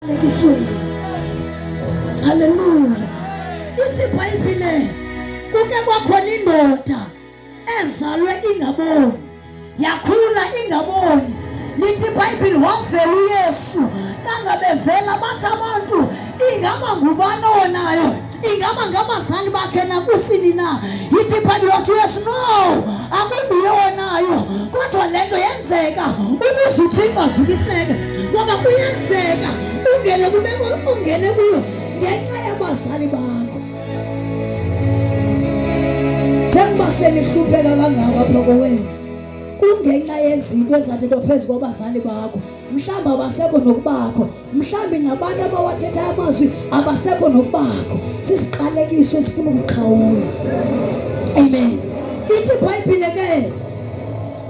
Alekisweni. Haleluya. Ithi iBhayibhile kuke kwakhona indoda ezalwe ingaboni yakhula ingaboni lithi iBhayibhile wavela uYesu kangabevela bathi abantu ingaba ngubani owonayo ingaba ngabazali bakhe nakusini na idiphanti lothu yesu no akunguye wonayo kodwa le nto yenzeka ukuze uthixo azukiseke ngoba kuyenzeka ungene kumeko ungene kuyo ngenxa yabazali bakho njengoba senihlupheka kangako apha kowenu kungenxa yezinto ezathi nto phezu kwabazali bakho mhlawumbi abasekho nokubakho mhlawumbi ngabantu abawathetha amazwi abasekho nokubakho sisiqalekiso esifuna ukuqhawula amen ithi ibhayibhile ke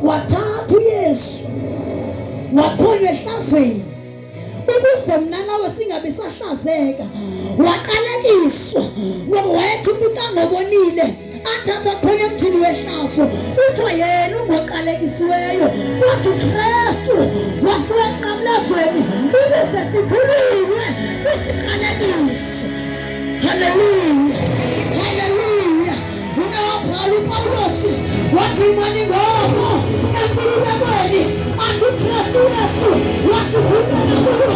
wathatha uyesu wakhona ehlazweni ukuze mna nawe singabi sahlazeka waqalekiswa ngoba wayethuba ukangobonile athatha khona emthini wehlaso kuthiwa yena ungoqalekisiweyo kodwa ukristu wasewenqamlezweni ukuze sikhululwe kwisiqalekiso haleluya haleluya ungawabhala upawulosi wathi imani ngomo enkululekweni athi ukristu yesu wasikhulula kulo